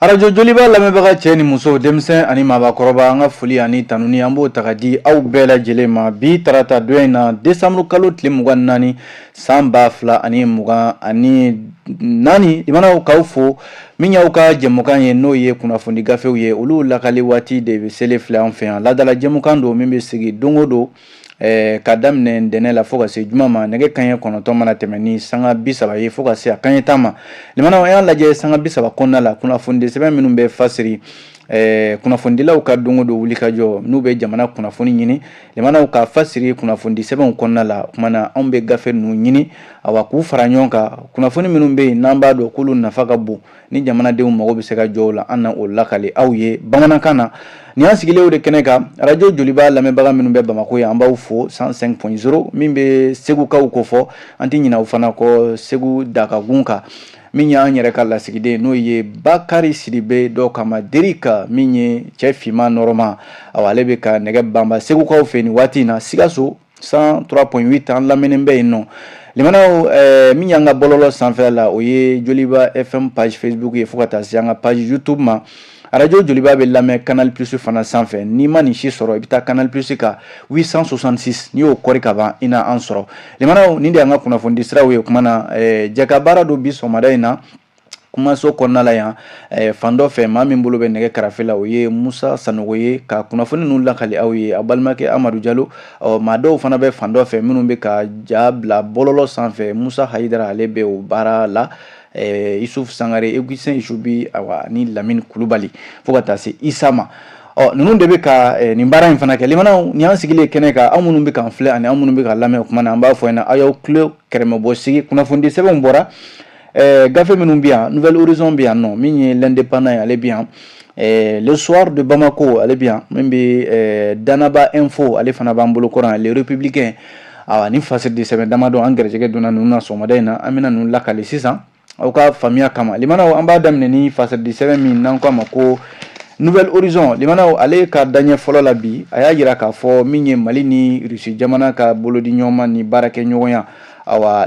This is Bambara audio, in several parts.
Arajo joliba lamɛnbaga cɛ ni muso denmisɛn ani maabakɔrɔba an ka foli ani tanuni an b'o taga di aw bɛɛ lajɛlen ma bi tarata don in na desanburu kalo tile mugan naani san ba fila ani mugan ani naani k'aw fo min y'aw ka jɛmukan ye n'o ye kunnafoni gafew ye olu lakali waati de bɛ selen filɛ an fɛ yan ladala jɛmukan don min bɛ sigi don o don ɛɛ ka daminɛ ntɛnɛn la fo ka se juma ma nɛgɛ kaɲɛ kɔnɔntɔn mana tɛmɛ ni sanga bi saba ye fo ka se a kaɲɛ tan ma limanaw an y'a lajɛ sanga bi saba kɔnɔna la kunnafonidi sɛbɛn minnu bɛ fasiri ɛɛ kunnafonidilaw ka don o don wulikajɔ n'u bɛ jamana kunnafoni ɲini limanaw ka fasiri kunnafonidi sɛbɛnw kɔnɔna la o kuma na anw bɛ gafe ninnu ɲini awa k'u fara ɲɔgɔn kan kunnafoni minnu bɛ yen n'an b'a dɔn k'olu nafa ka bon ni jamanadenw mago bɛ se ka jɔ o la an na o lakali aw ye bamanankan na nin y'an sigilenw de kɛnɛ kan arajo joliba lamɛnbaga minnu bɛ bamakɔ yan an b'aw fo 105.0 min bɛ segukaw kofɔ an tɛ ɲinɛ u fana kɔ segu dakagun kan min y'an yɛrɛ ka lasigiden n'o ye bakari sidibe dɔw k'a ma derika min ye cɛ finman nɔrɔma awa ale bɛ ka nɛgɛ banba segukaw fɛ nin waati in na sikaso 103.8 an lamɛnnen bɛ yen nɔ limanaw eh, min y'an ka bɔlɔlɔ sanfɛ la o ye joliba fm page facebook ye fo ka taa se an ka page youtube ma arajo joliba bɛ lamɛn canal plus fana sanfɛ n'i ma nin si sɔrɔ i bɛ taa canal plus kan 866 n'i y'o kɔri ka ban i na an sɔrɔ limanaw nin de y'an ka kunnafonidi siraw ye o kuma na eh, jɛkabaara don bi sɔgɔmada in na kumaso kɔnɔna la yan eh, fan dɔ fɛ maa min bolo bɛ nɛgɛ karafe la o ye musa sanogo ye ka kunnafoni ninnu lakali aw ye a balimakɛ amadu jalo ɔ maa dɔw fana bɛ fan dɔ fɛ minnu bɛ ka ja bila bɔlɔlɔ sanfɛ musa hayidara ale bɛ o baara la eh, isuf sangare eguisen isubi awa ni lamini kulubali fo ka taa se isa ma ɔ ninnu de bɛ ka eh, nin baara in fana kɛ limanaw nin y'an sigilen kɛnɛ kan aw minnu bɛ k'an filɛ ani aw minnu bɛ k'an lamɛn o kuma na an b'a fɔ ɲɛna aw y'aw tulo kɛrɛmɛbɔ sigi kunnafonidi sɛbɛnw bɔra Ɛɛ gafe minnu bɛ yan nouvel horizon bɛ yan nɔ min ye l'indépendant ye ale bɛ yan ɛɛ le soir de Bamako ale bɛ yan min bɛ ɛɛ Danaba info ale fana b'an bolo kɔrɔ yan le républicain awa ni fasiri de sɛbɛn damadɔ an gɛrɛsɛgɛ donna ninnu na sɔgɔmada in na an bɛna ninnu lakali sisan aw ka faamuya kama limanaw an b'a daminɛ ni fasiri de sɛbɛn min n'an k'a ma ko nouvel horizon limanaw ale ka daɲɛ fɔlɔ la bi a y'a jira k'a fɔ min ye mali ni russie jamana ka bolodiɲɔgɔnma ni baarakɛɲɔgɔnya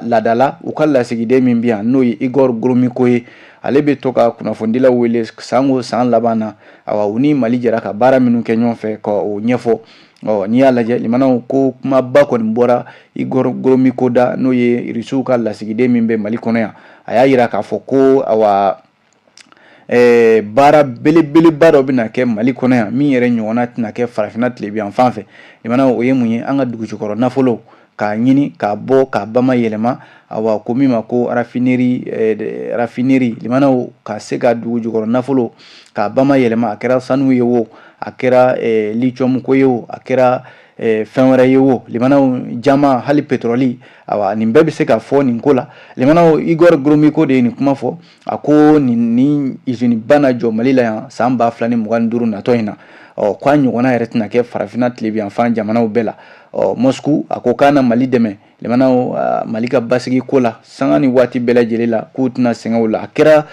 ladala u ka lasigiden min bɛ yan n'o ye igor gromyko ye ale bɛ to ka kunnafonidilaw wele san o san laban na awa u ni mali jɛra ka baara minnu kɛ ɲɔgɔn fɛ ka o ɲɛfɔ ɔ n'i y'a lajɛ limanaw ko kumaba kɔni bɔra igor gromyko da n'o ye irisiw ka lasigiden min bɛ mali kɔnɔ yan a y'a jira k'a fɔ ko ɛɛ baara belebeleba dɔ bɛna kɛ mali kɔnɔ yan min yɛrɛ ɲɔgɔnna tɛna kɛ farafinna tilebin yan fan fɛ limanaw o ye mun ye an ka dugujukɔrɔ nafolo k'a ɲini k'a bɔ k'a bama yɛlɛma awa ko min ma ko rafineri eh, rafineri limanaw ka se ka dugujukɔrɔ nafolo k'a bama yɛlɛma a kɛra sanu ye wo a kɛra eh, lithium ko ye wo a kɛra eh, fɛn wɛrɛ ye wo limanaw jaman hali petrɔli Ayiwa nin bɛɛ bɛ se ka fɔ nin ko la limanaw igor gromyko de ye nin kuma fɔ a ko nin izini ba na jɔ mali la yan san ba fila ni mugan duuru natɔ in na ɔ k'a ɲɔgɔnna yɛrɛ tɛna kɛ farafinna tilebinyanfan jamanaw bɛɛ la moscou a ko k'a na mali dɛmɛ mali ka basigi ko la sanga ni waati bɛɛ lajɛlen la k'u tɛna sɛgɛn o la a kɛra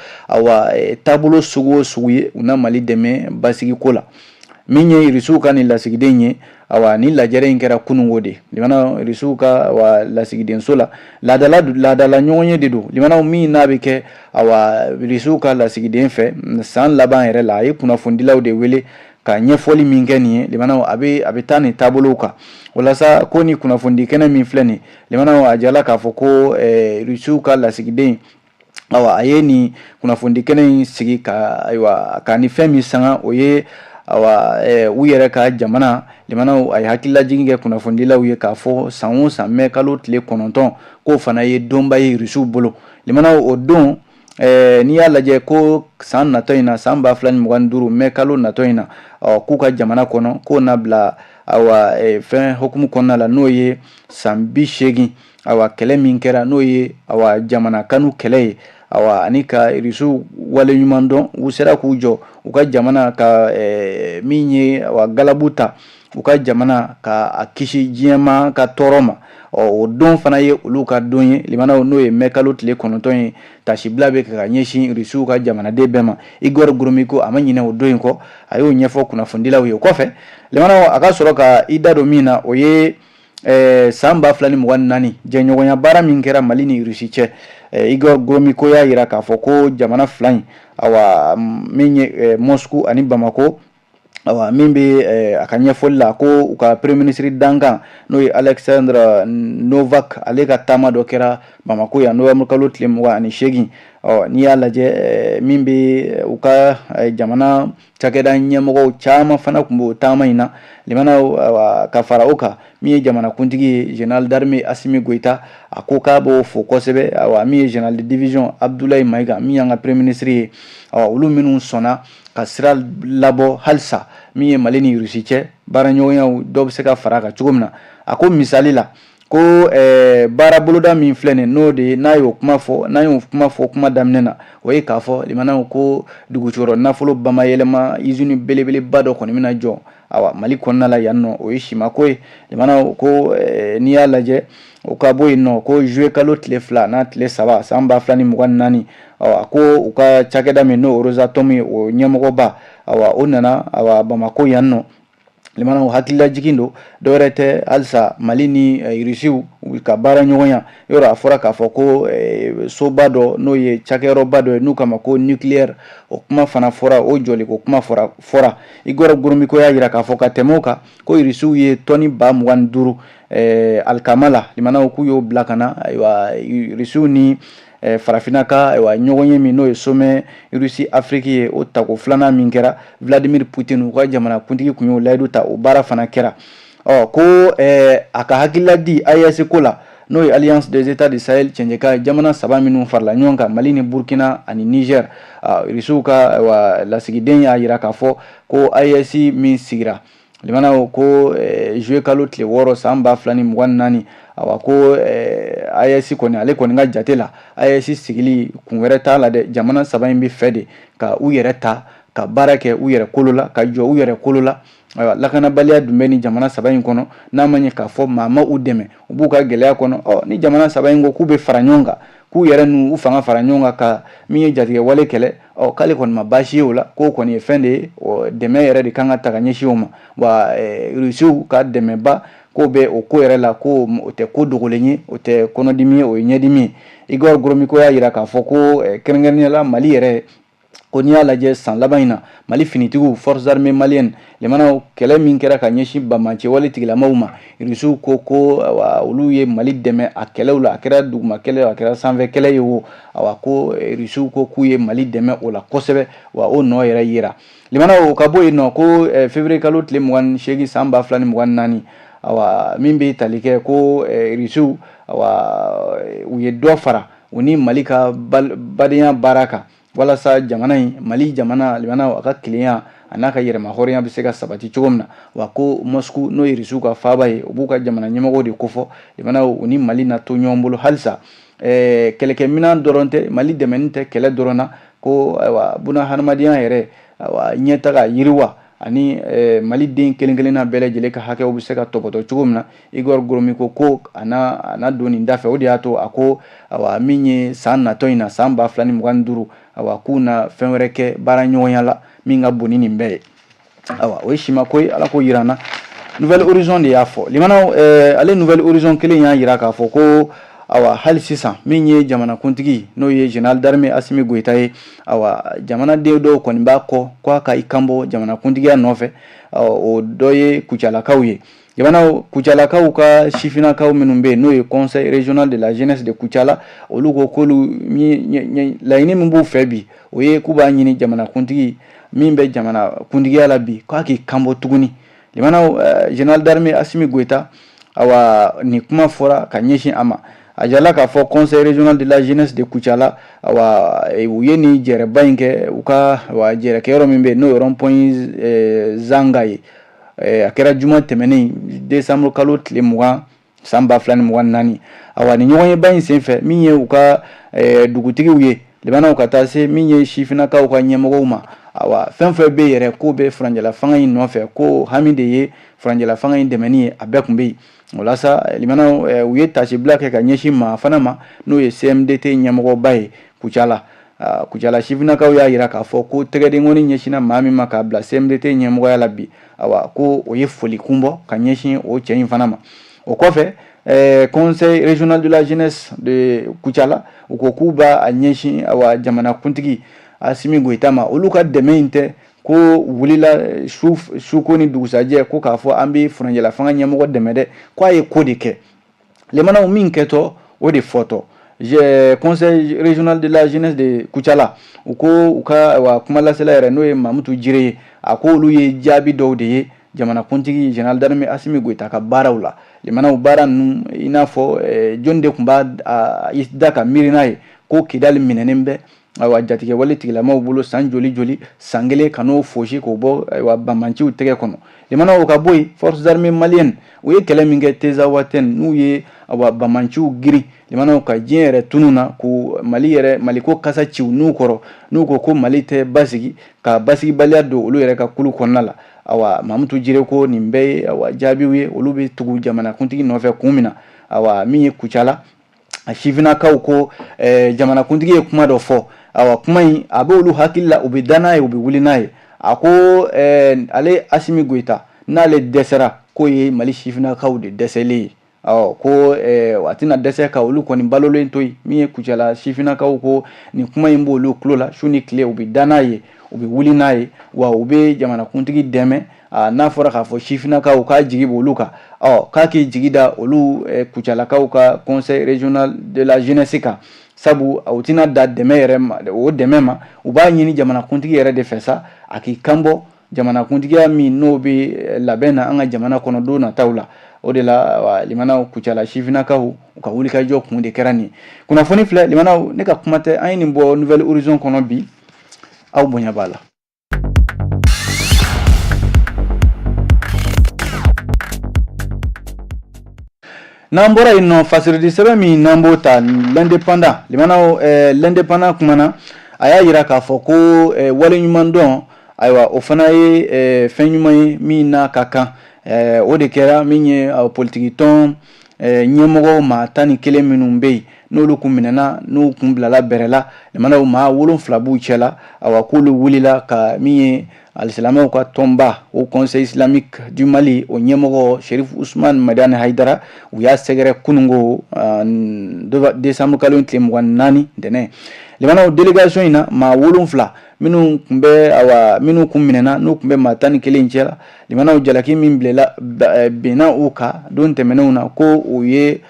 taabolo sugu o sugu ye u na mali dɛmɛ basigi ko la Min ye irisiw ka nin lasigiden ye ayiwa nin lajɛrɛ in kɛra kununko de irisiw ka lasigidenso la laadala ɲɔgɔnye de don limanaw min n'a bɛ kɛ awa irisiw ka lasigiden fɛ san laban yɛrɛ la a ye kunnafonidilaw de wele ka ɲɛfɔli min kɛ nin ye a bɛ taa nin taabolow kan walasa ko ni kunnafonidi kɛnɛ min filɛ nin a jala k'a fɔ ko irisiw ka lasigiden awa a ye nin kunnafoni kɛnɛ in sigi ka ayiwa ka ni fɛn min sanga o ye awa u yɛrɛ ka jamana limanaw a ye hakililajigin kɛ kunnafonidilaw ye k'a fɔ san o san mɛ kalo tile kɔnɔntɔn k'o fana ye donba ye irisiw bolo limanaw o don n'i y'a lajɛ ko san natɔ in na san ba fila ni mugan duuru mɛ kalo natɔ in na ɔ k'u ka jamana kɔnɔ k'o na bila awa fɛn hukumu kɔnɔna la n'o ye san bi seegin awa kɛlɛ min kɛra n'o ye awa jamana kanu kɛlɛ ye awa ani ka irisiw waleɲuman dɔn u sera k'u jɔ u ka jamana ka eh, min ye awa galabu ta u ka jamana ka a kisi diɲɛma ka tɔɔrɔ ma ɔ o don fana ye olu ka don ye limanaw n'o ye mɛ kalo tile kɔnɔntɔn ye taasibila bɛ ka ɲɛsin irisiw ka jamanaden bɛɛ ma igor gromyko a ma ɲinɛ o don in kɔ a y'o ɲɛfɔ kunnafonidilaw ye o kɔfɛ limanaw a ka sɔrɔ ka i da don min na o ye Ɛɛ san ba fila ni mugan naani jɛɲɔgɔnya baara min kɛra mali ni rusi cɛ igor gromyko y'a jira k'a fɔ ko jamana fila in ayiwa min ye moscou ani bamakɔ ayiwa min bɛ a ka ɲɛfɔli la ko u ka premier ministre dankan n'o ye alexandre novak ale ka taama dɔ kɛra bamakɔ yan novembre kalo tile mugan ni seegin ɔ n'i y'a lajɛ min bɛ u ka jamana cakɛda ɲɛmɔgɔw caman fana tun b'o taama in na limanaw ka fara o kan min ye jamanakuntigi ye général d'armée assimi goïta a ko k'a b'o fo kosɛbɛ awa min ye général de division abdoulaye maïga min y'an ka premier ministre ye olu minnu sɔnna ka sira labɔ halisa min ye mali ni rusi cɛ baaraɲɔgɔnyaw dɔ bɛ se ka fara kan cogo min na a ko misali la ko ɛɛ baara boloda min filɛ nin n'o de ye n'a y'o kuma fɔ n'a y'o kuma fɔ kuma daminɛ na o ye k'a fɔ limanaw ko dugujukɔrɔ nafolo bamayɛlɛma izini belebeleba dɔ kɔni bɛna jɔ awa mali kɔnɔna la yan nɔ o ye simako ye limanaw ko eh, n'i y'a lajɛ o ka bɔ yen nɔ ko juillet kalo tile fila n'a tile saba san ba fila ni mugan ni naani awa ko u ka cakɛda min n'o rosatom ye o ɲɛmɔgɔba awa o nana awa bamako yan nɔ limana hakilila jigin don dɔwɛrɛ tɛ halisa mali ni eh, irisiw ka baara ɲɔgɔnya yɔrɔ a fɔra k'a fɔ ko eh, soba dɔ n'o ye cakɛyɔrɔba dɔ ye n'u k'a ma ko nucleaire o kuma fana fɔra o jɔliko kuma fɔra igor gromyko y'a yira k'a fɔ ka tɛmɛ o kan ko irisiw ye tɔni ba mugan ni duuru eh, alikama la limanaw k'u y'o bila ka na ayiwa irisiw ni farafinna ka ɲɔgɔnye min n'o ye somɛ rusi afiriki ye o tako filanan min kɛra vladimir putin u ka jamanakuntigi kun y'o layidu ta o baara fana kɛra ɔ ko a ka hakilila di aes ko la n'o ye alliance des etats du sahel cɛncɛ kan jamana saba minnu farala ɲɔgɔn kan mali ni burukina ani niger rusiw ka lasigiden y'a yira k'a fɔ ko aes min sigira limanaw ko juillet kalo tile wɔɔrɔ san ba fila ni mugan naani a ko aes kɔni ale kɔni ka jate la aes sigili kun wɛrɛ t'a la dɛ jamana saba in bɛ fɛ de ka u yɛrɛ ta ka baara kɛ u yɛrɛ kolo la ka jɔ u yɛrɛ kolo la ayiwa lakanabaliya dun bɛ ni jamana saba in kɔnɔ n'a ma ye k'a fɔ maa ma u dɛmɛ u b'u ka gɛlɛya kɔnɔ ɔ ni jamana saba in ko k'u bɛ fara ɲɔgɔn kan k'u yɛrɛ n'u fanga fara ɲɔgɔn kan ka min ye jatigɛwale kɛlɛ ɔ k'ale kɔni ma baasi ye o la k'o kɔni ye fɛn de ye dɛmɛ yɛrɛ de kan ka taa ka ɲɛsin o ma wa rusiw ka dɛmɛba k'o bɛ o ko yɛrɛ la ko o tɛ ko dogolen ye o tɛ kɔnɔdimi ye o ye ɲɛdimi ye igor gromyko y'a yira k'a fɔ ko kɛrɛnkɛrɛnya la mali yɛrɛ ko n'i y'a lajɛ san laban in na mali finitigiw forces armees maliennes limanaw kɛlɛ min kɛra ka ɲɛsin banbaanci wale tigilamaw ma irisiw ko k'olu ye mali dɛmɛ a kɛlɛw la a kɛra duguma kɛlɛ a kɛra sanfɛ kɛlɛ ye wo a ko irisiw ko k'u ye mali dɛmɛ o la kosɛbɛ wa o nɔ yɛrɛ yera limana o ka bɔ yen nɔ ko eh, fevrier kalo tile mugan seegin san ba fila ni mugan naani awa min bɛ tali kɛ ko eh, irisiw awa u ye dɔ fara u ni mali ka badenya baara kan walasa jamana in mali jamana limana a ka kelenya a n'a ka yɛrɛmahɔrɔnya bɛ se ka sabati cogo min na wa ko mosku n'o ye irisiw ka faaba ye u b'u ka jamana ɲɛmɔgɔ de kofɔ limana u ni mali na to ɲɔgɔn bolo halisa eh, kɛlɛkɛminɛn dɔrɔn tɛ mali dɛmɛni tɛ kɛlɛ dɔrɔn na ko ayiwa buna hadamadenya yɛrɛ ayiwa ɲɛtaga yiriwa ani eh, maliden kelen kelenna bɛɛ lajɛlen ka hakɛw bɛ se ka tɔbɔtɔ cogo min na Igor Gromyko ko a na don nin da fɛ o de y'a to a ko a min ye san natɔ in na san ba fila ni mugan ni duuru a k'u na fɛn wɛrɛ kɛ baara ɲɔgɔnya la min ka bon ni nin bɛɛ ye ayiwa o ye simako ye Ala k'o jira an na Nouvel Horizon de y'a fɔ limanaw eh, ale Nouvel Horizon kelen y'a jira k'a fɔ ko awa hali sisan min ye jamanakuntigi n'o ye général d'armée Asimi Goyita ye awa jamanaden dɔw kɔni b'a kɔ ko a ka i kanbɔ jamanakuntigiya nɔfɛ o dɔ ye kucalakaw ye Lemanaw Kucalakaw ka sifinnakaw minnu bɛ yen n'o ye conseil régional de la jeunesse de Kucala olu ko k'olu laɲini min b'u fɛ bi o ye k'u b'a ɲini jamanakuntigi min bɛ jamanakuntigiya la bi k'a k'i kanbɔ tuguni lemanaw général d'armée Asimi Goyita ayiwa nin kuma fɔra ka ɲɛsin a ma a yirala k'a fɔ conseil régional de la jeunesse de Kucala u ye nin jɛrɛba in kɛ u ka jɛrɛkɛyɔrɔ min bɛ yen n'o ye rond-point Zanga ye a kɛra juma tɛmɛnen décembre kalo tile mugan san ba fila ni mugan ni naani awa nin ɲɔgɔnyeba in senfɛ min ye u ka dugutigiw ye lemanaw ka taa se min ye sifinnakaw ka ɲɛmɔgɔw ma awa fɛn fɛn bɛ yɛrɛ k'o bɛ furancɛla fanga in nɔfɛ k'o hami de ye furancɛla fanga in dɛmɛni ye a bɛɛ tun bɛ yen Walasa lemanaw u ye tasibila kɛ ka ɲɛsin maa fana ma n'o ye CMDT ɲɛmɔgɔba ye Kucala Kucala sifinnakaw y'a jira k'a fɔ ko tɛgɛdenkɔni ɲɛsinna maa min ma k'a bila CMDT ɲɛmɔgɔya la bi a ko o ye foli kun bɔ ka ɲɛsin o cɛ in fana ma o kɔfɛ conseil régional de la jeunesse de Kucala u ko k'u b'a ɲɛsin jamanakuntigi Asimi Goyita ma olu ka dɛmɛ in tɛ ko wulila su ko ni dugusajɛ ko k'a fɔ an bɛ furancɛla fanga ɲɛmɔgɔ dɛmɛ dɛ ko a ye ko de kɛ lemanaw min kɛtɔ o de fɔtɔ conseil régional de la jeunesse de Kucala u ko u ka awa kumalasela yɛrɛ n'o ye Mamutu Jire ye a ko olu ye jaabi dɔw de ye jamanakuntigi général d'armée Asimi Goita ka baaraw la lemanaw baara ninnu i n'a fɔ jɔni de tun b'a da ka miiri n'a ye ko Kidali minɛnen bɛ Ayiwa jatigɛwale tigilamaw bolo san joli joli san kelen ka n'o fosi k'o bɔ ayiwa banbaganciw tɛgɛ kɔnɔ lemanaw ka bɔ yen forces armées maliennes u ye kɛlɛ min kɛ Tinzawatɛn n'u ye ayiwa banbaganciw girin lemanaw ka diɲɛ yɛrɛ tunun na ko Mali yɛrɛ Maliko kasa ci u nun kɔrɔ n'u ko ko Mali tɛ basigi ka basigibaliya don olu yɛrɛ ka kulu kɔnɔna la ayiwa Mamutu Jire ko nin bɛɛ ye ayiwa jaabiw ye olu bɛ tugu jamanakuntigi nɔfɛ kun min na ayiwa min ye Kucala a sifinnakaw ko eh, jamanakuntigi ye kuma dɔ fɔ awa kuma in a bɛ olu hakili la u bɛ da n'a ye u bɛ wuli n'a ye a ko eh, ale Asimi Goyita n'ale dɛsɛra k'o ye Mali sifinnakaw de dɛsɛlen ye ɔ ko eh, a tɛna dɛsɛ ka olu kɔni balolen to yen min ye Kucala sifinnakaw ko nin kuma in b'olu tulo la su ni tile u bɛ da n'a ye u bɛ wuli n'a ye wa u bɛ jamanakuntigi dɛmɛ n'a fɔra k'a fɔ sifinnakaw k'a jigi bɔ olu kan ɔ k'a k'i jigi da olu kucalakaw ka conseil régional de la jeunesse kan sabu u tɛna dan dɛmɛ yɛrɛ ma o dɛmɛ ma u b'a ɲini jamanakuntigi yɛrɛ de fɛ sa a k'i kanbɔ jamanakuntigiya min n'o bɛ labɛn na an ka jamana kɔnɔ don nataw la o de lamɛnnaw kucala sifinnakaw u ka wulikajɔ kun de kɛra nin kunnafoni filɛ lamɛnnaw ne ka kuma tɛ an ye nin bɔ Nouvel Horizon kɔnɔ bi aw bonya b'a la N'an bɔra yen nɔ fasiridi sɛbɛn min n'an b'o ta L'Indépendant lamɛnnaw L'Indépendant kumana a y'a jira k'a fɔ ko waleɲumandɔn ayiwa o fana ye fɛn ɲuman ye min n'a ka kan o de kɛra min ye politigi tɔn ɲɛmɔgɔ maa tan ni kelen minnu bɛ yen n'olu tun minɛna n'u kun bilala bɛrɛ la lamɛnnaw maa wolonfila b'u cɛ la a k'olu wulila ka min ye alisilamɛw ka tɔnba haut conseil islamique du mali o ɲɛmɔgɔ sherifu usumani madani hayidara u y'a sɛgɛrɛ kunungo desanburukalo tile mugan ni naani ntɛnɛn lamɛnnaw délégation in na maa wolonfila minnu tun bɛ minnu tun minɛna n'u tun bɛ maa tan ni kelen cɛ la Lamɛnnaw jalaki min bila binna u kan don tɛmɛnenw na ko u ye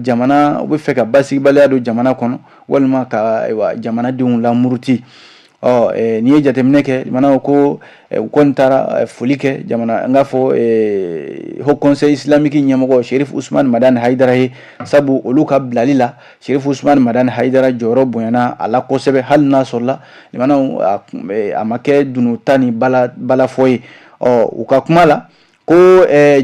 jamana u bɛ fɛ ka basigibaliya don jamana kɔnɔ walima ka jamanadenw lamuruti ɔ n'i ye jateminɛ kɛ lamɛnnaw ko u kun taara foli kɛ n k'a fɔ haut conseil islamique ɲɛmɔgɔ sherifu usumani madani hayidara ye sabu olu ka bilali la sherifu usumani madani hayidara jɔyɔrɔ bonyana a la kosɛbɛ hali n'a sɔrɔla a ma kɛ dununta ni balafɔ ye ɔ u ka kuma la ko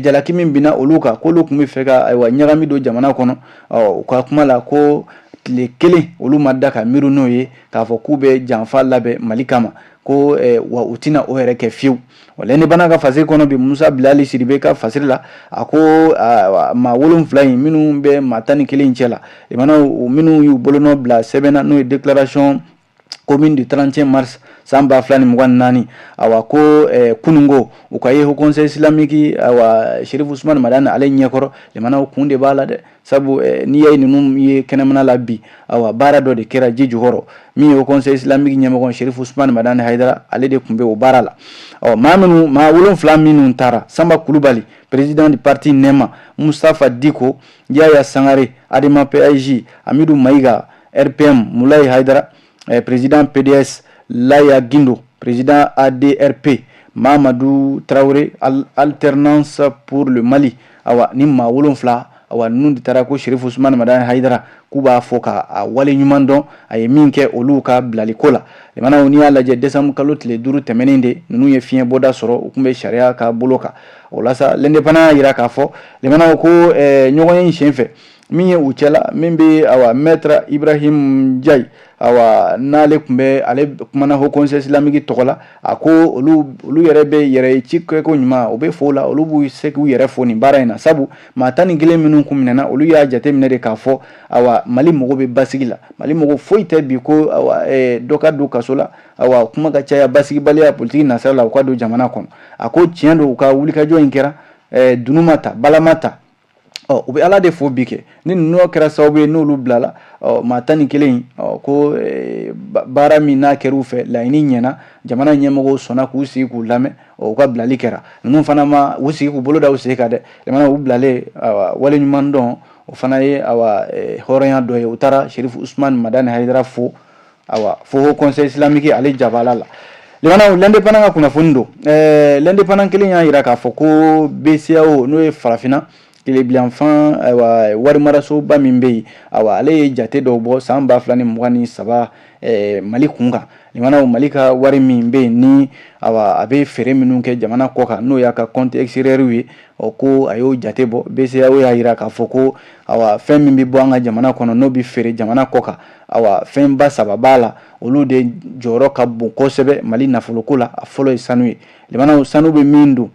jalaki min binna olu kan k'olu tun bɛ fɛ ka ayiwa ɲagami don jamana kɔnɔ ɔ u ka kuma la ko tile kelen olu ma da ka miiri n'o ye k'a fɔ k'u bɛ janfa labɛn mali kama ko wa u tɛna o yɛrɛ kɛ fiyewu L'Indépendant ka fasiri kɔnɔ bi musa bilali sidibe ka fasiri la a ko maa wolonfila in minnu bɛ maa tan ni kelen cɛ la lamɛnnaw minnu y'u bolonɔ bila sɛbɛn na n'o ye déclaration commune du 31 mars san ba fila ni mugan ni naani awa ko eh, kunungo u ka ye haut conseil islamique awa sherifu usumani madani ale ɲɛkɔrɔ lamɛnnaw kun de b'a la dɛ sabu eh, n'i y'a ye ninnu ye kɛnɛmana la bi awa baara dɔ de kɛra ji jukɔrɔ min ye haut conseil islamique ɲɛmɔgɔ sherifu usman madani haidara ale de tun bɛ o baara la ɔ maa minnu maa wolonfila minnu taara sanba kulubali président du parti nɛma mustafa diko yaya sangare adema paj amidu mayiga rpm mulayi haidara eh, président PDS Laya Guindo, président ADRP Mamadou Traoré, alternance pour le Mali. Awa ni maa wolonfila awa ninnu de taara ko Sheriff Ousmane Madani Haidara k'u b'a fo k'a wale ɲuman dɔn a ye min kɛ olu ka bilali ko la limanaw n'i y'a lajɛ décembre kalo tile duuru tɛmɛnen de ninnu ye fiɲɛ bɔda sɔrɔ u tun bɛ sariya ka bolo kan o la sa l'indépendant y'a jira k'a fɔ limanaw ko eh, ɲɔgɔnye in sen fɛ min ye u cɛla min bɛ awa maître Ibrahim Ndiaye awa n'ale tun bɛ ale kumana Haut Conseil islamique tɔgɔ la a ko olu olu yɛrɛ bɛ yɛrɛ ci kɛ ko ɲuman u bɛ fo la olu b'u se k'u yɛrɛ fo nin baara in na sabu maa tan ni kelen minnu tun minɛna olu y'a jateminɛ de k'a fɔ awa mali mago bɛ basigi la mali mago foyi tɛ bi ko dɔ ka don kaso la awa kuma ka caya basigibaliya politigi nasira la u ka don jamana kɔnɔ a ko tiɲɛ don u ka wulikajɔ in kɛra dunun ma ta bala ma ta ɔ u bɛ ala de fo bi kɛ ni ninnu kɛra sababu ye n'olu bilala ɔ maa tan ni kelen ɔ ko eh, baara min n'a kɛra u fɛ laɲini ɲɛna jamana ɲɛmɔgɔw sɔnna k'u sigi k'u lamɛn ɔ u ka bilali kɛra ninnu fana ma u sigi k'u bolo da u sen kan dɛ limanaw u bilalen awa wale ɲuman dɔn o fana ye awa eh, hɔrɔnya dɔ ye u taara sherifu usman madani hayidara fo awa fo haut conseil islamique ale jabala la limanaw l'indépendant ka kunnafoni don ɛɛ l'indépendant kelen y'a jira k'a fɔ ko BCEAO n'o ye farafinna tilebilanfan ayiwa warimarasoba min bɛ yen awa ale ye jate dɔw bɔ san ba fila ni mugan ni saba ɛɛ mali kun kan limanaw mali ka wari min bɛ yen ni awa a bɛ feere minnu kɛ jamana kɔ kan n'o y'a ka compte extérieur ye ɔ ko a y'o jate bɔ BCEAO y'a jira k'a fɔ ko awa fɛn min bɛ bɔ an ka jamana kɔnɔ n'o bɛ feere jamana kɔ kan Ayiwa fɛnba saba b'a la olu de jɔyɔrɔ ka bon kosɛbɛ mali nafoloko la a fɔlɔ ye sanu ye limanaw sanu bɛ min don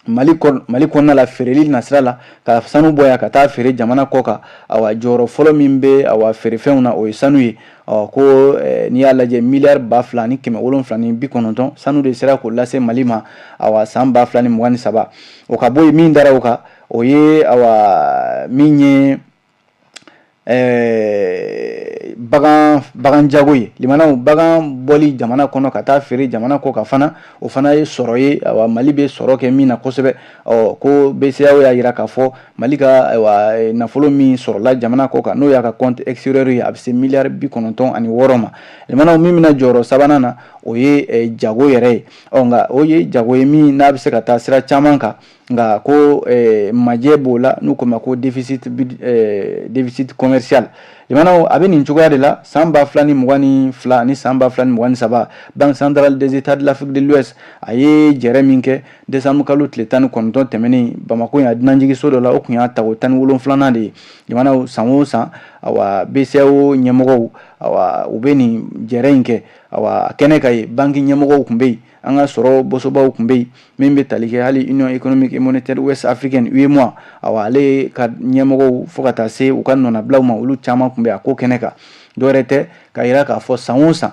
mali kɔnɔna la feereli nasira la ka sanu bɔ yan ka taa feere jamana kɔ kan a jɔyɔrɔ fɔlɔ min bɛ a feerefɛnw na o ye sanu ye ɔ ko n'i y'a lajɛ miliyari ba fila ni kɛmɛ wolon wolonwula ni bi kɔnɔntɔn sanu de sera k'o lase mali ma a san ba fila ni mugan ni saba o ka bɔ yen min da o kan o ye min ye Eh, bagan bagan jago ye limanaw bagan bɔli jamana kɔnɔ ka taa feere jamana kɔ kan fana o fana ye sɔrɔ ye a mali bɛ sɔrɔ kɛ min na kosɛbɛ ɔ ko BCEAO y'a jira k'a fɔ mali ka nafolo min sɔrɔla jamana kɔ kan n'o y'a ka compte extérieur ye a bɛ se miliyari bi kɔnɔntɔn ani wɔɔrɔ ma limanaw min bɛ na jɔyɔrɔ sabanan na o ye jago yɛrɛ ye ɔ nka o ye jago ye min n'a bɛ se ka taa sira caman kan nka ko eh, majɛ b'o la n'u k'o ma ko déficit eh, déficit commercial limanaw a bɛ nin cogoya de la san ba fila ni mugan ni fila ni san ba fila ni mugan ni saba banque centrale des états de l'afrique de l'ouest a ye jɛrɛ min kɛ décembre kalo tile tan ni kɔnɔntɔn tɛmɛnen bamako yan dunanjigiso dɔ la o tun y'a tako tan ni wolonfilanan de ye limanaw san o san awa BCEAO ɲɛmɔgɔw awa u bɛ nin jɛrɛ in kɛ awa a kɛnɛ kan yen banki ɲɛmɔgɔw tun bɛ yen an ka sɔrɔ bosobaw tun bɛ yen min bɛ tali kɛ hali union économique et monétaire ouest africaine UEMOA awa ale ka ɲɛmɔgɔw fo ka taa se u ka nɔnabilaw ma olu caman tun bɛ a ko kɛnɛ kan dɔwɛrɛ tɛ ka jira k'a fɔ san o san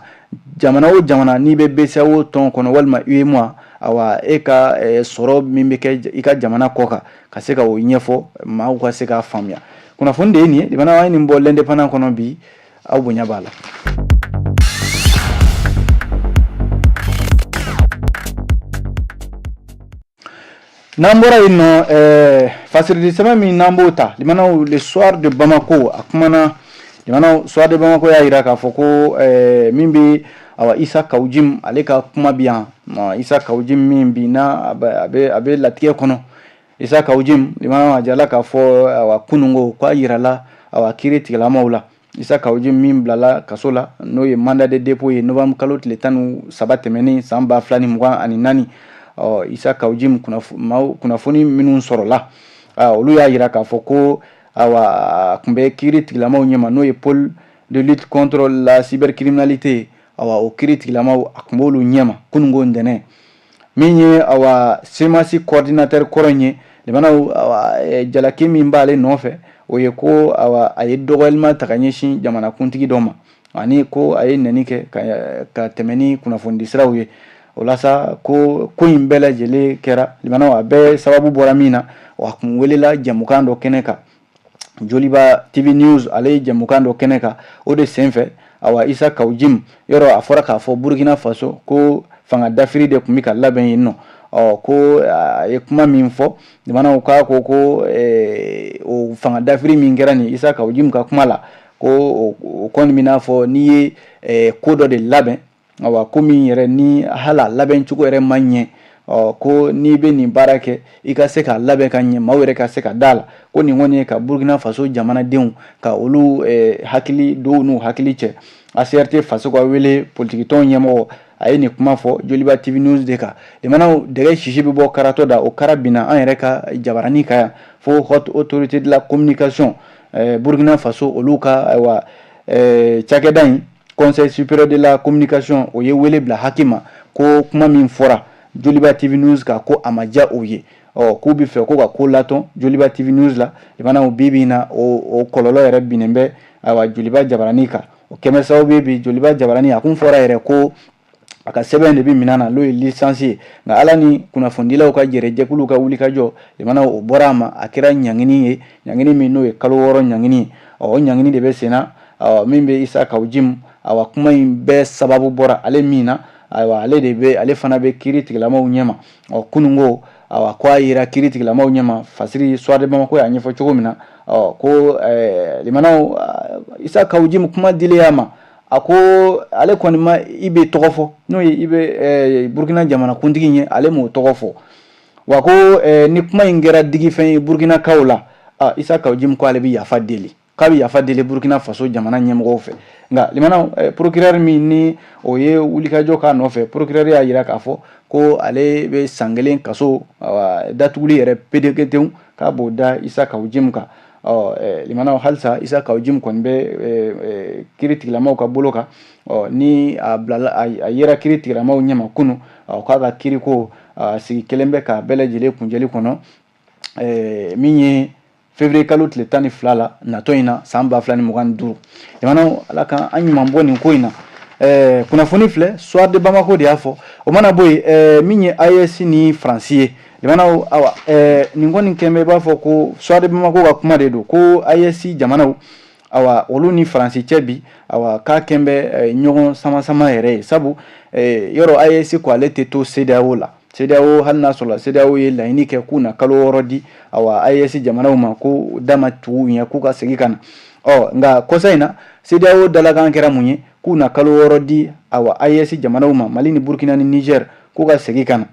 jamana o jamana n'i bɛ BCEAO tɔn kɔnɔ walima UEMOA awa e ka eh, sɔrɔ min bɛ kɛ i ka jamana kɔ kan ka se ka o ɲɛfɔ maaw ka se k'a faamuya kunnafoni de ye nin ye limana an ye nin bɔ l'indépendant kɔnɔ bi aw bonya b'a la n'an bɔra yen nɔ ɛɛ eh, fasirili sɛbɛn min n'an b'o ta limanaw le soir de bamako a kumana limanaw soir de bamako y'a jira k'a fɔ ko ɛɛ eh, min bɛ awa isa kawujim ale ka kuma bi yan isa kawujim min bi na a bɛ a bɛ latigɛ kɔnɔ Isa kawujim a jirala k'a fɔ a kunun ko k'a jirala a kiritigɛlamaw la isa kawujim min bilala kaso la n'o ye mandat de dépôt ye novembre kalo tile tan ni saba tɛmɛnen san ba fila ni mugan ani naani ɔ isa kawujim kunnafoni minnu sɔrɔla olu y'a jira k'a fɔ ko tun bɛ kiritigɛlamaw ɲɛma n'o ye pôle de lutte contre la cybercriminalité o kiritigɛlamaw a tun b'olu ɲɛma kunun ko ntɛnɛn min ye awa CMAS coordinateur kɔrɔ in ye limana eh, jalaki min b'ale nɔfɛ o ye ko awa a ye dɔgɔyalima ta ka ɲɛsin jamanakuntigi dɔ ma ani ko a ye nɛni kɛ ka, ka tɛmɛ ni kunnafonidi siraw ye o la sa ko ko in bɛɛ lajɛlen kɛra limana a bɛɛ sababu bɔra min na a kun welela jɛmukan dɔ kɛnɛ kan joliba tv news ale ye jɛmukan dɔ kɛnɛ kan o de senfɛ awa isa kawujim yɔrɔ a fɔra k'a fɔ burkina faso ko fanga dafiri de tun bɛ ka labɛn yen nɔ ɔ ko a ye kuma min fɔ limanaw k'a ko ko eh, o fanga dafiri min kɛra nin isa kawujim ka kuma la ko o kɔni bɛ n'a fɔ n'i ye eh, ko dɔ de labɛn Ayiwa ko min yɛrɛ ni hala labɛn cogo yɛrɛ ma ɲɛ ɔ ko n'i bɛ nin baara kɛ i ka se k'a labɛn ka ɲɛ maaw yɛrɛ ka se ka da la ko nin kɔni ye ka burukina faso jamanadenw ka olu hakili don n'u hakili cɛ ACRT faso ka wele politikitɔn ɲɛmɔgɔ a ye nin kuma fɔ joliba tv news de kan limanaw dɛgɛ sisi bɛ bɔ karatɔ da o kara binna an yɛrɛ ka jabarani kan yan fo haute autorité de la communication burukina faso olu ka ayiwa cakɛda in Conseil supérieur de la communication o ye wele bila HAC ma ko kuma min fɔra joliba TV News kan ko a ma diya o ye ɔ k'u bɛ fɛ ko ka ko latɔn joliba TV News la limanaw bi bi in na o kɔlɔlɔ yɛrɛ binnen bɛ awa joliba jabaranin kan o kɛnbɛ sababu bɛ bi joliba jabaranin a tun fɔra yɛrɛ ko a ka sɛbɛn de bɛ minɛ a la n'o ye licence ye nka ala ni kunnafonidilaw ka jɛrɛjɛkuluw ka wulikajɔ limanaw o bɔra a ma a kɛra ɲangini ye ɲangini min n'o ye kalo wɔɔrɔ ɲangini ye ɔ o ɲangini de bɛ senna min bɛ isa kawujimu awa kuma in bɛɛ sababu bɔra ale min na ayiwa ale de bɛ ale fana bɛ kiiritigɛlamaw ɲɛma ɔ kunun ko awa ko a yera kiiritigɛlamaw ɲɛma fasiri Soir de Bamako y'a ɲɛfɔ cogo min na ɔ ko limanaw isa kawujimu kuma dilen a ma a ko ale kɔni ma IB tɔgɔ fɔ n'o ye IB burukina jamanakuntigi ye ale m'o tɔgɔ fɔ wa ko ni kuma in kɛra digifɛn ye burukinakaw la isa kawujimu ko ale bɛ yafa deli k'a bɛ yafa deli burukina faso jamana ɲɛmɔgɔ fɛ nka limanaw procureur min ni o ye wulikajɔ k'a nɔfɛ procureur y'a jira k'a fɔ ko ale bɛ san kelen kaso datuguli yɛrɛ peereketew k'a b'o da isa kawujimu kan limanaw halisa isa kawujimu kɔni bɛ kiiritigɛlamaw ka bolo kan ɔ ni a yera kiiritigɛlamaw ɲɛma kunun k'a ka kiiriko sigi kɛlen bɛ ka bɛɛ lajɛlen kunjɛli kɔnɔ min ye février kalo tile tan ni fila la natɔ in na san ba fila ni mugan duuru limanaw ala ka an ɲuman bɔ nin ko in na kunnafoni filɛ Soir de Bamako de y'a fɔ o mana bɔ yen min ye AES ni ni faransi ye Limanaw awa ɛɛ nin kɔni kɛnbɛ i b'a fɔ ko Soir de Bamako ka kuma de don ko AES jamanaw awa olu ni France cɛ bi awa k'a kɛnbɛ ɲɔgɔn sama sama yɛrɛ ye sabu ee yɔrɔ AES ko ale tɛ to CEDEAO la CEDEAO hali n'a sɔrɔla CEDEAO ye laɲini kɛ k'u na kalo wɔɔrɔ di awa AES jamanaw ma ko da ma tugu u ɲɛ k'u ka segin ka na ɔ nka kɔsa in na CEDEAO dalakan kɛra mun ye k'u na kalo wɔɔrɔ di awa AES jamanaw ma Mali ni Burkina ni Niger k'u ka segin ka na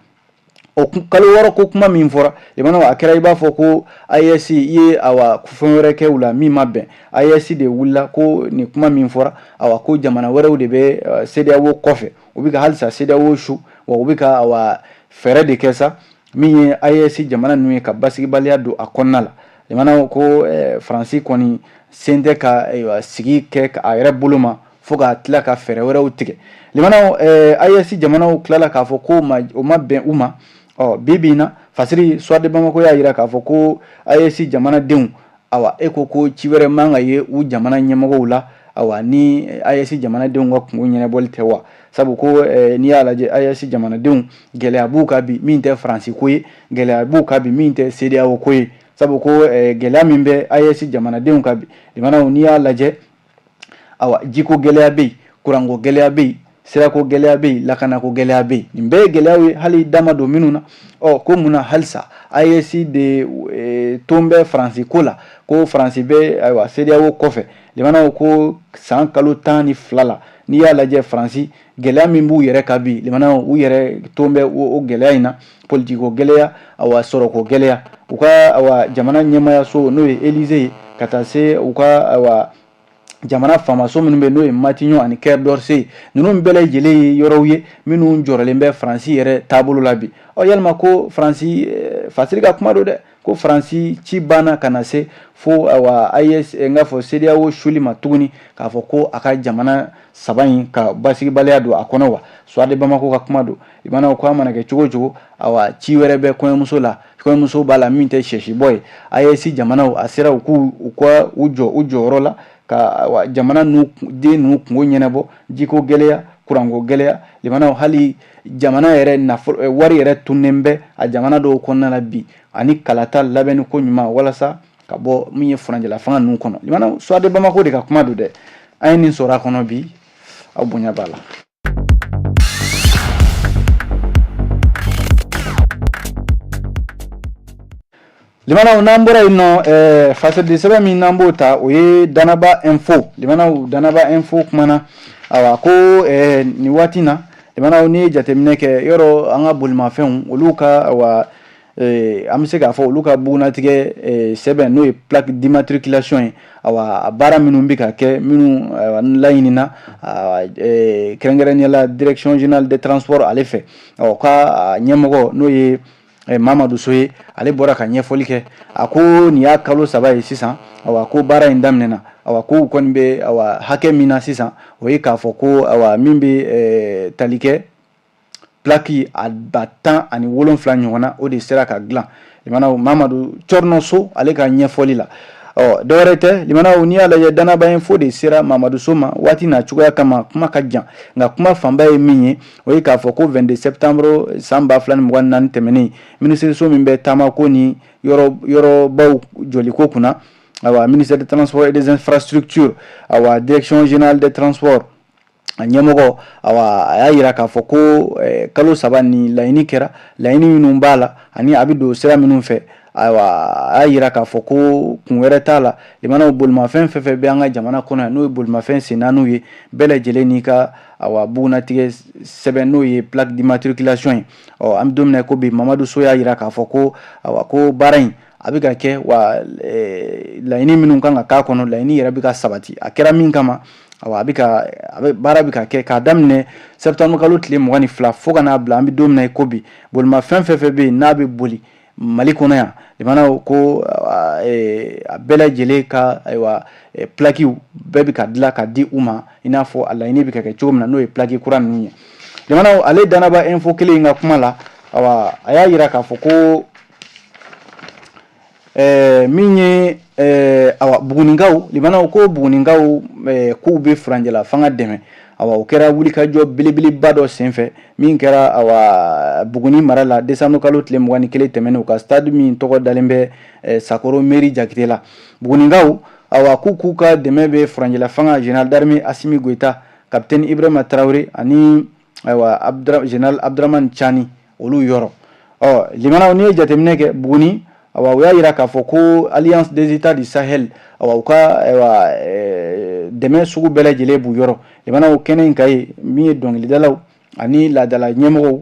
o kalo wɔɔrɔ ko kuma min fɔra limanaw a kɛra i b'a fɔ ko AES ye awa fɛn wɛrɛ kɛ u la min ma bɛn AES de wulila ko nin kuma min fɔra awa ko jamana wɛrɛw de bɛ eh, CEDEAO kɔfɛ u bɛ ka halisa CEDEAO su wa u bɛ ka awa fɛɛrɛ de kɛ sa min ye AES jamana ninnu ye ka basigibaliya don a kɔnɔna la limanaw ko eh, Faransi kɔni sen tɛ ka ayiwa sigi kɛ a yɛrɛ bolo ma fo ka tila ka fɛɛrɛ wɛrɛw tigɛ limanaw eh, AES jamanaw tilala k'a fɔ ko ma, o ma bɛn u ma ɔ bi bi in na fasiri Soir de Bamako y'a jira k'a fɔ ko AES jamanadenw awa e ko ko ci wɛrɛ man ka ye u jamana ɲɛmɔgɔw la awa ni AES jamanadenw ka kunko ɲɛnabɔli tɛ wa sabu ko eh, n'i y'a lajɛ AES jamanadenw gɛlɛya b'u kan bi min tɛ faransi ko ye gɛlɛya b'u kan bi min tɛ CEDEAO ko ye sabu ko eh, gɛlɛya min bɛ AES jamanadenw kan bi limanaw n'i y'a lajɛ awa jiko gɛlɛya bɛ yen kuranko gɛlɛya bɛ yen sirako gɛlɛya bɛ yen lakanako gɛlɛya bɛ yen nin bɛɛ ye gɛlɛyaw ye hali dama don minnu na ɔ ko mun na halisa AES de e, ton bɛ faransi ko la ko faransi bɛ ayiwa CEDEAO kɔfɛ limanaw ko san kalo tan ni fila la n'i y'a lajɛ faransi gɛlɛya min b'u yɛrɛ kan bi limanaw u yɛrɛ ton bɛ o gɛlɛya in na politiko gɛlɛya awa sɔrɔko gɛlɛya u ka awa jamana ɲɛmayaso n'o ye Élysée ye ka taa se u ka awa jamana faamaso minnu bɛ n'o ye Matignon ani Quai d'Orsay ye ninnu bɛɛ lajɛlen ye yɔrɔw ye minnu jɔrɔlen bɛ faransi yɛrɛ taabolo la bi ɔ yalima ko faransi fasiri ka kuma don dɛ ko faransi ci banna ka na se fo awa AES n k'a fɔ CEDEAO suli ma tuguni k'a fɔ ko a ka jamana saba in ka basigibaliya don a kɔnɔ wa Soir de Bamako ka kuma don limanaw ko a mana kɛ cogo cogo a ci wɛrɛ bɛ kɔɲɔmuso la kɔɲɔmuso b'a la min tɛ sɛsibɔ ye AES jamanaw a sera u k' u ka u jɔ u jɔyɔrɔ la ka jamana den ninnu kungo ɲɛnabɔ jiko gɛlɛya kuranko gɛlɛya hali jamana yɛrɛ nafolo eh, wari yɛrɛ tunnen bɛ a jamana dɔw kɔnɔna la bi ani kalata labɛnni ko ɲuman walasa ka bɔ min ye furancɛla fanga ninnu kɔnɔ limanaw Soir de Bamako de ka kuma don dɛ an ye nin sɔrɔ a kɔnɔ bi aw bonya b'a la Limanaw n'an bɔra yen nɔ ɛɛ fasɛden sɛbɛn min n'an b'o ta o ye danaba info limanaw danaba info kumana ayiwa ko ɛɛ nin waati in na limanaw n'i ye jateminɛ kɛ yɔrɔ an ka bolimafɛnw olu ka ayiwa ɛɛ an bɛ se k'a fɔ olu ka bugunnatigɛ ɛɛ sɛbɛn n'o ye plaque d'immatriculation ye ayiwa a baara minnu bɛ ka kɛ minnu ayiwa n laɲinina ayiwa ɛɛ kɛrɛnkɛrɛnnenya la direction générale des transports ale fɛ ɔ ka a ɲɛmɔgɔ n'o ye ɛ Mamadu So ye ale bɔra ka ɲɛfɔli kɛ a ko nin y'a kalo saba ye sisan awa ko baara in daminɛna awa ko u kɔni bɛ awa hakɛ min na sisan o ye k'a fɔ ko awa min bɛ ɛ tali kɛ plaki a ba tan ani wolonfila ɲɔgɔn na o de sera ka dilan limanaw Mamadu Cɔrɔnɔ So ale ka ɲɛfɔli la ɔ dɔwɛrɛ tɛ limanaw n'i y'a lajɛ danaba info de sera Mamadu So ma waati n'a cogoya kama kuma ka jan nka kuma fanba ye min ye o ye k'a fɔ ko 22 septembre san 2024 tɛmɛnen minisiriso min bɛ taamako ni yɔrɔbaw jɔliko kunna awa ministère des transports et des infrastructures awa direction générale des transports a ɲɛmɔgɔ awa a y'a yira k'a fɔ ko eh, kalo saba ni laɲini kɛra laɲini minnu b'a la ani a bɛ don sira minnu fɛ ayiwa a y'a yira k'a fɔ ko kun wɛrɛ t'a la limanaw bolimafɛn fɛn fɛn bɛ an ka jamana kɔnɔ yan n'o ye bolimafɛn sen naaniw ye bɛɛ lajɛlen n'i ka a bugunatigɛ sɛbɛn n'o ye plaque d'immatriculation ye ɔ an bɛ don min na i ko bi mamadu so y'a jira k'a fɔ ko a ko baara in a bɛ ka kɛ wa laɲini minnu kan ka k'a kɔnɔ laɲini yɛrɛ bɛ ka sabati a kɛra min kama baara bɛ ka kɛ k'a daminɛ septembre kalo tile mugan ni fila fo ka n'a bila an bɛ don min na i ko bi bolimafɛn fɛn fɛn bɛ yen n'a bɛ boli Mali kɔnɔ yan limanaw ko a bɛɛ lajɛlen ka ayiwa plakiw bɛɛ bɛ ka dilan ka di u ma i n'a fɔ a laɲini bɛ ka kɛ cogo min na n'o ye plaki kura ninnu ye limanaw ale Danaba Info kelen in ka kuma la a y'a jira k'a fɔ ko min ye Bugunikaw ko Bugunikaw k'u bɛ furanjɛla fanga dɛmɛ awa o kɛra wulikajɔ belebeleba dɔ senfɛ min kɛra awa buguni mara la desanburu kalo tile mugan ni kelen tɛmɛnen u ka stade min tɔgɔ dalen bɛ eh, sakoro meri jakite la bugunikaw awa k'u k'u ka dɛmɛ bɛ furanjɛla fanga general d'armée asimi goyita kapitɛni ibrahima traore ani ayiwa general abdramani cani olu yɔrɔ ɔ limanaw n'i ye jateminɛ kɛ buguni awa u y'a yira k'a fɔ ko alliance des états du sahel awa u ka awa eh, dɛmɛ sugu bɛɛ lajɛlen b'u yɔrɔ limanaw kɛnɛ in kan yen min ye dɔnkilidalaw ani laadala ɲɛmɔgɔw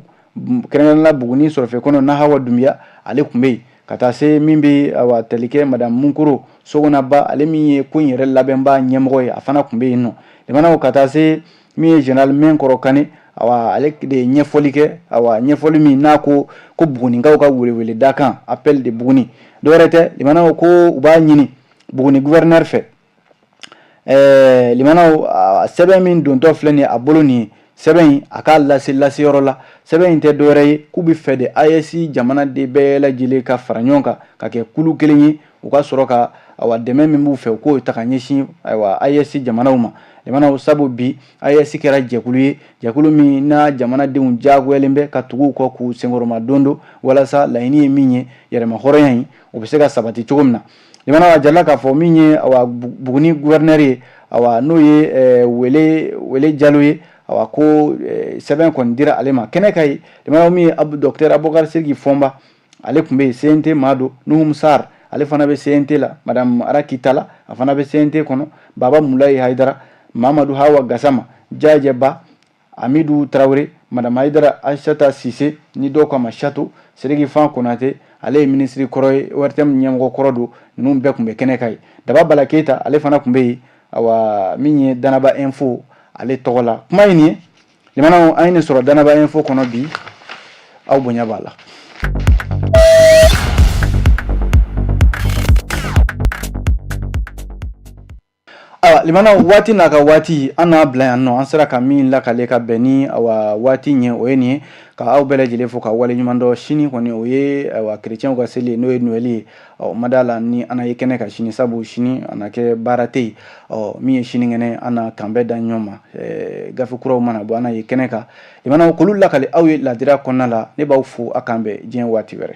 kɛrɛnkɛrɛnla buguni sɔrɔfɛ kɔnɔ nahawa dunbiya ale tun bɛ yen ka taa se min bɛ awa tali kɛ madame munkoro sogonaba ale min ye ko in yɛrɛ labɛnba ɲɛmɔgɔ ye a fana tun bɛ yen nɔ limanaw ka taa se min ye general mɛnkɔrɔ kane ale de ye ɲɛfɔli kɛ a ɲɛfɔli min na ko ko bugunikaw ka weleweleda kan appel de buguni dɔwɛrɛ tɛ limanaw ko u b'a ɲini buguni gouverneur fɛ ɛɛ sɛbɛn min dontɔ filɛ nin a bolo nin sɛbɛn in a k'a lase laseyɔrɔ la sɛbɛn in tɛ dɔwɛrɛ ye k'u b'a fɛ de AES jamanaden bɛɛ lajɛlen ka fara ɲɔgɔn kan ka kɛ kulu kelen ye u ka sɔrɔ ka ayiwa dɛmɛ min b'u fɛ u k'o ta ka ɲɛsin ayiwa AES jamanaw ma limanaw sabu bi AES kɛra jɛkulu ye jɛkulu min n'a jamanadenw diyagoyalen bɛ ka tugu u kɔ k'u senkɔrɔma don don walasa laɲini ye min ye yɛrɛma hɔrɔnya in o bɛ se ka sabati cogo min na limanaw a jirala k'a fɔ min ye ayiwa Buguni gouverneur ye ayiwa n'o ye eh, Wele Jalo ye ayiwa ko eh, sɛbɛn kɔni dira ale ma kɛnɛ kan yen limanaw min ye Abu Docteur Abubakar Siriki Fɔnba ale tun bɛ yen CNT maa don nuhum sar ale fana bɛ CNT la a raki tala a fana bɛ CNT kɔnɔ baba mulayi hayidara mamadu hawa gasama jajɛba amidu tarawele madame hayidara ayisata sise ni dɔw k'a ma sato sidiki nfa konate ale ye minisiri kɔrɔ ye ORTM ɲɛmɔgɔ kɔrɔ don ninnu bɛɛ tun bɛ kɛnɛ kan yen daba bala keyita ale fana tun bɛ yen min ye danaba info ale tɔgɔ la kuma in nin ye Limanaw an ye nin sɔrɔ Danaba info kɔnɔ bi aw bonya b'a la. Awa limanaw waati n'a ka waati an n'a bila yan nɔ an sera ka min lakale ka bɛn ni awa waati ye o ye nin ye ka aw bɛɛ lajɛlen fo ka waleɲuman dɔn sini kɔni o ye awa kerecɛnw ka seli ye n'o ye noɛli ye ɔ ma d'a la ni an na ye kɛnɛ kan sini sabu sini a na kɛ baara tɛ yen ɔ min ye sinikɛnɛ an na kanbɛn da ɲɔgɔn ma gafe kuraw mana bɔ an na ye kɛnɛ kan limanaw k'olu lakali aw ye ladira kɔnɔna la ne b'aw fo a k'an bɛn diɲɛ waati wɛrɛ